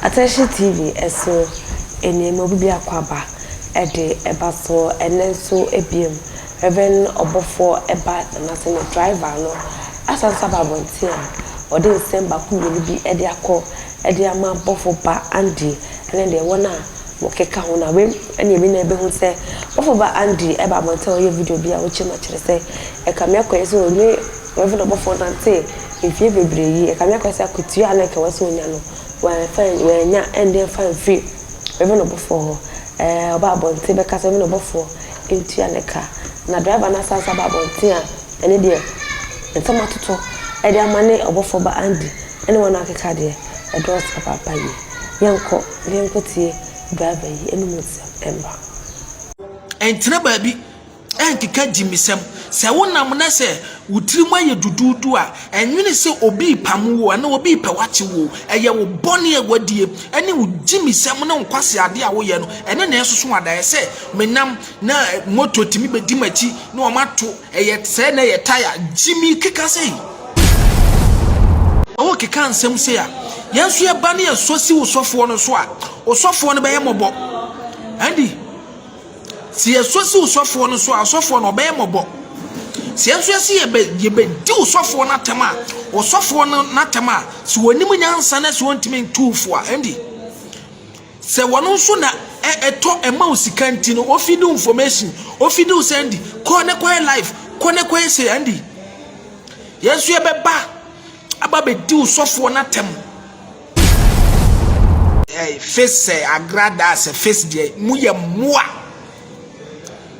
Atɛhye TV so nneɛma bu bi akwaaba de ba so ɛnnɛ nso bio. Rev. Ɔbɔfoɔ ba Nanase ne driver no asan nso aba abɔnten a ɔde nsɛm baako mmienu bi de akɔ de ama bɔfo ba Andy ne deɛ wɔn a Wɔkeka ho no a, wei ne ɛbi na yɛbɛhu sɛ bɔfo ba Andy ba abɔnten a ɔyɛɛ video bi a ɔkyerɛ mu akyerɛ sɛ ɛka me akɔyɛ sɛ ɔne Rev. Ɔbɔfo nantee mfeɛ bebree yi, ɛka me akɔyɛ sɛ akatua a na anka ɛwɔ sɛ ɔnya no, wamfa an, wannya ɛnde mfa amfiri Rev. Ɔbɔfoɔ hɔ. Ɛɛ, ɔbaa abɔnten bɛka sɛ Rev. Ɔbɔfoɔ ntua ne ka. Na driver no asan nso aba abɔnten a, ɛno deɛ, nsɛm atoto de ama ne Ɔbɔfo ba Andy ne wɔn akeka deɛ, ɛdɔɔso papaapa yie. yɛnkɔ na yɛnkɔtie driver yi anom nsɛm mma. Ɛntena baabi ɛnkeka gyimisɛm. Sɛ wonam na sɛ wo tirim ayɛ duduudu a, ɛnwene sɛ obi repamo wo anaa obi repɛ w'akye wo. Ɛyɛ wo bɔne a woadie ɛne wo gyimisɛm ne wo nkwaseade a woyɛ no ɛne na ɛsoso adaeɛ sɛ menam na moto tumi bɛdi m'akyi na wɔato Ɛyɛ sɛ na ɛyɛ tae a Jimmy keka sei. Ɔwɔ keka nsɛm sei a, yɛn nso yɛba ne yɛsɔ si wo sɔfoɔ no so a, osɔfoɔ no bɛyɛ mmɔbɔ. Andy, sɛ yɛsɔ si wo sɔfoɔ no so a, osɔfoɔ no ɔbɛyɛ mmɔbɔ. Sɛ yɛn nso yɛsi yɛbɛ yɛbɛdi wo sɔfoɔ no atɛm a, osɔfoɔ no n'atɛm a, sɛ wɔnim nyansa na sɛ wɔntumi ntu fo a, Andy. Sɛ wɔn nso na ɛ ɛtɔ ɛma wo sika nti no ofidi wo information ofidi wo sɛ ndi kɔ ne kɔyɛ life kɔ ne kɔyɛ sɛ ndi yɛn nso yɛbɛba aba bɛdi wo sɔfoɔ no atɛm eh, face sɛ agradaa sɛ face deɛ moyɛ mmoa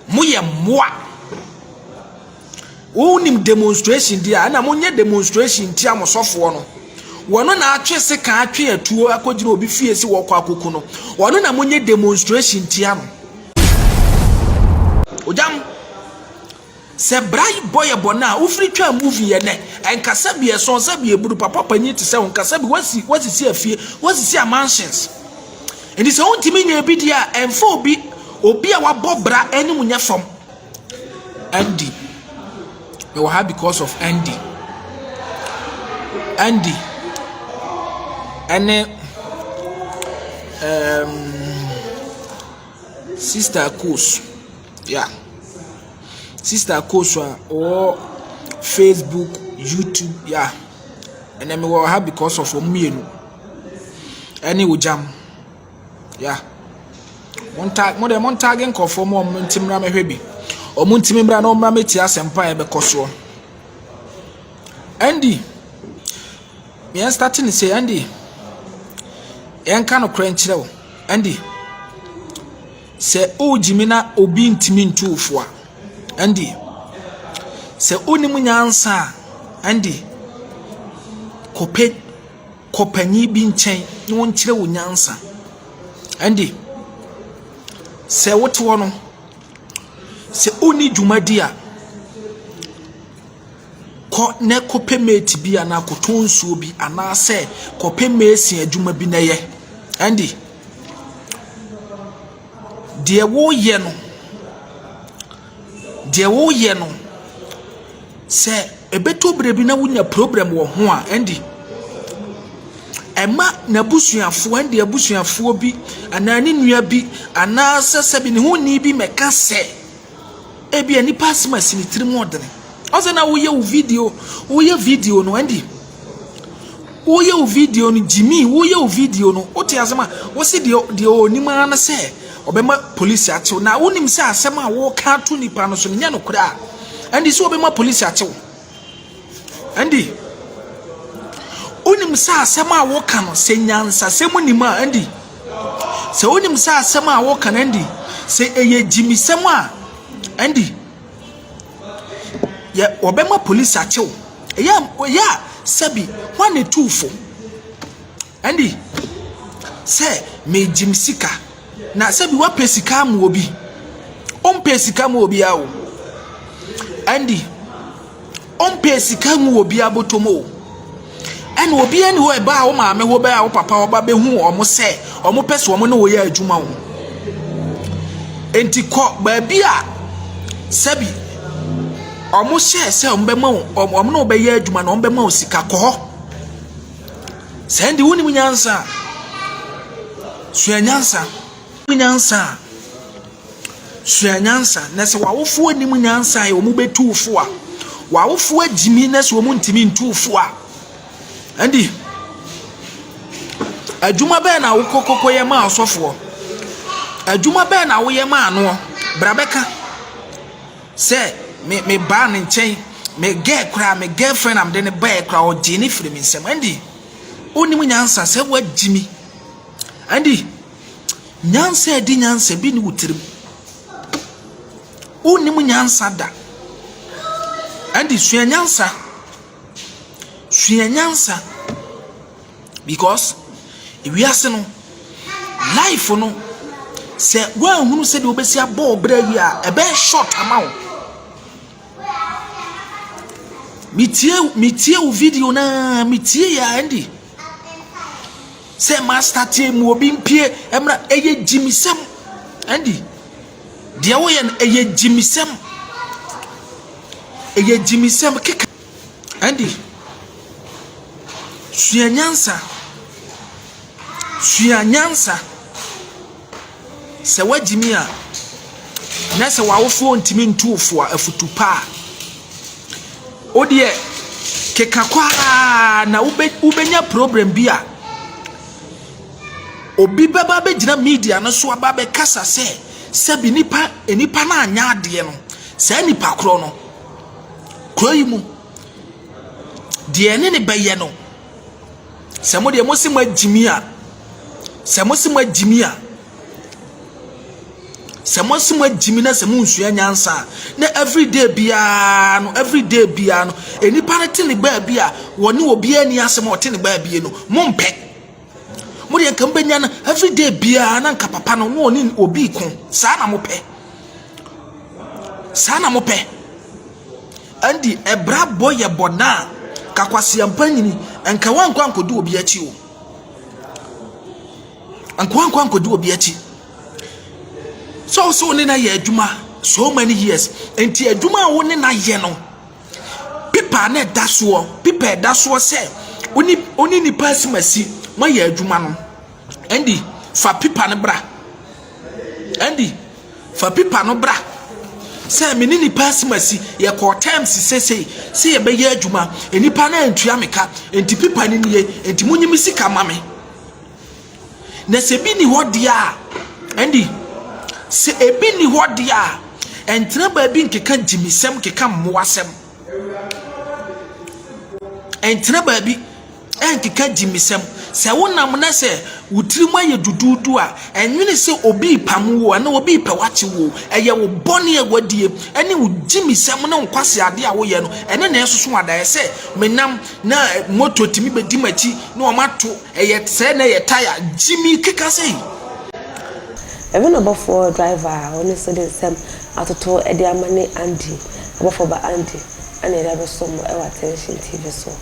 moyɛ mmoa Wo nim demonstration di a ɛna mo nyɛ demonstration tia mo sɔfoɔ no. Wɔno na atwe sekan atwe atuo akɔgyina obi fie si wɔkɔ akɔku no. Wɔno na mo nyɛ demonstration tia no. Ogyam. Sɛ bra bɔ yɛ bɔ no a wofiri twa movie yɛ nɛ ɛnkasa bi ɛsɔn sɛ bi eburu papa panyin te sɛ wo nkasa bi wasi wasisi afie wasisi a mansions. Nti sɛ wontumi nyɛ bi di a ɛmfa obi obi a wabɔ bra anim nyɛ fam. Andy, mewɔ ha because of Andy. Andy ɛne ɛɛm sista Akos, ya. Sista Akos a ɔwɔ facebook, yutub, ya. Ɛnɛ mewɔ ha because of wɔn mmienu ɛne Ogyam. Yeah. Montag, mo deɛ montage nkurɔfoɔ mu wɔn nti mmra mɛhwɛ bi. Wɔn ntumi mmra na wɔmmra mɛtie asɛmpa a ɛbɛkɔ soɔ. Andy, yɛn start ne sɛ Andy, yɛnka no korɛ nkyerɛ wo. Andy, sɛ wogyimi na obi ntumi ntu wo fo a, Andy, sɛ wonim nyansa a, Andy, kɔpɛ kɔ panin bi nkyɛn na ɔnkyerɛ wo nyansa. Ɛnde, sɛ wote hɔ no, sɛ wonni dwumadi a, kɔ na kɔpɛ mate bi anaa kɔtɔ nsuo bi anaasɛ kɔpɛ mesin adwuma bi na yɛ. Ɛnde, deɛ woreyɛ no, Deɛ woreyɛ no, sɛ ɛbɛtɔ berɛ bi na wonya problem wɔ ho a, ɛnde ɛma n'abusuafoɔ, ɛnde abusuafoɔ bi anaa ne nua bi anaasɛ sɛbi ne ho ni bi mɛka sɛ ebia nipa asɛm asi ne tirim ɔdene. Ɔsɛ na woyɛ wo video, woyɛ video no ɛnde Woyɛ wo video no gyimii woyɛ wo video no wote asɛm a wose deɛ deɛ ɔnim ara ne sɛ ɔbɛma polisi atew na wonim sɛ asɛm a woka to nipa no so no nyɛ nokorɛ a ɛnde sɛ ɔbɛma polisi atew ɛnde wonim sɛ asɛm a woka no sɛ nyansasɛm nim a ɛnde sɛ wonim sɛ asɛm a woka no ɛnde sɛ ɛyɛ gyimisɛm a ɛnde Yɛ wɔbɛma polisi akye wo. Ɛyɛ a ɛyɛ a sɛbi hwan na etuu fo? Ɛnde sɛ megyim sika na sɛbi woapɛ sika ama obi. Wompɛɛ sika mmaa obiara o. Ɛnde. Ɔmpɛ sika ngu obiara bɔtɔ mu o. Ɛna obiara ni hɔ ɛbaa wo maame hɔ bɛɛ a wo papa ɔba bɛhu wɔn sɛ wɔn pɛ sɛ wɔn ne wɔyɛ adwuma o. Enti kɔ baabi a sɛbi wɔn hyɛɛ sɛ wɔn bɛma wo wɔn ne wo bɛyɛ adwuma na wɔn bɛma wo sika kɔ hɔ. Sɛ ɛnde wonim nyansa a sua nyansa. Nyansa a. Sua nyansa, na sɛ w'awofoɔ nnim nyansa a wɔbɛtu wo fo a, w'awofoɔ agyimi na sɛ wɔntumi ntu wo fo a, ɛnde adwuma bɛn na wokɔ kɔkɔyɛ maa ɔsɔfoɔ? Adwuma bɛn na woyɛ maa noɔ? Bra bɛka sɛ me me baa ne nkyɛn me girl koraa me girlfriend a mede ne baeɛ koraa ɔgyee ne firi me nsam ɛnde wonim nyansa sɛ woagyimi ɛnde Nyansa a ɛdi nyansa bi nni wo tirim. Wonnim nyansa da. Ɛnti sua nyansa. Sua nyansa because wiase no, life no, sɛ woanhunu sɛdeɛ wobɛsi abɔ wo berɛ yie a, ɛbɛyɛ short ama wo. Metie metie wo video no ara, metie yɛ a ɛnti sɛ ma astate mu obi mpie ɛmra ɛyɛ gyimisɛm ɛndi deɛ woyɛ no ɛyɛ gyimisɛm ɛyɛ gyimisɛm keka ɛndi sua nyansa sua nyansa Sɛ woagyimi a, na sɛ w'awofoɔ ntumi ntu wo fo a, afutu pa a, wo deɛ keka kɔ ara na wobɛnya problem bi a obi bɛba bɛgyina media no so aba bɛkasa sɛ sɛbi nipa nipa no anyɛ adeɛ no saa nipa korɔ no kuro yi mu deɛ ne ne bɛyɛ no Sɛ mo deɛ mose moagyimi a, sɛ mose moagyimi a, sɛ mose moagyimi na sɛ monsua nyansa a, na everyday biara no, everyday biara no, nnipa no te ne baabi a wɔne obiara ani asɛm a ɔte ne baabi no, mompɛ. Mo deɛ nka mobɛnya no everyday biara na nka papa no na ɔne obi ko. Saa na mopɛ. Saa na mopɛ. Ɛnde ɛbrabɔ yɛ bɔn a, ka kwaseampa nyini, nka woankɔ ankɔdi obi akyi o. Nka woankɔ ankɔdi obi akyi. Sɛ wo sɛ wo ne no ayɛ adwuma so many years, nti adwuma a wo ne no ayɛ no, pepa na ɛda soɔ, pepa ɛda soɔ sɛ wo ne nipa asimasi moayɛ adwuma no. Andy, fa pipa no bra. Andy, fa pipa no bra. Sɛ me ne nipa asimasi, yɛkɔɔ terms sesei, sɛ yɛbɛyɛ adwuma, nipa no antua me ka, nti pipa no nie, nti monyi me sika ma me. Na sɛ bi ni hɔ deɛ a, Andy, sɛ ebi ni hɔ deɛ a, ɛntena baabi nkeka gyimisɛm, nkeka mmoasɛm. Ɛntena baabi. ɛnkeka agyimisɛm. Sɛ wonam na sɛ wo tirim ayɛ duduudu a, nnwene sɛ obi repamo wo o, anaa obi repɛ w'akye wo o. Ɛyɛ wo bɔne a woadie, ɛne wo gyimisɛm ne wo nkwaseadeɛ a woyɛ no, ɛno na ɛresoso adaeɛ. Sɛ menam na moto tumi bɛdi m'akyi na wɔato, ɛyɛ sɛɛ na ɛyɛ tire, gyimi keka sei. Ɛno na ɔbɔfoɔ, driver, a ɔno nso de nsɛm atoto de ama ne Andy, ɔbɔfoɔ ba Andy, ɛna yɛde abɛsom mo wɔ Attention TV so.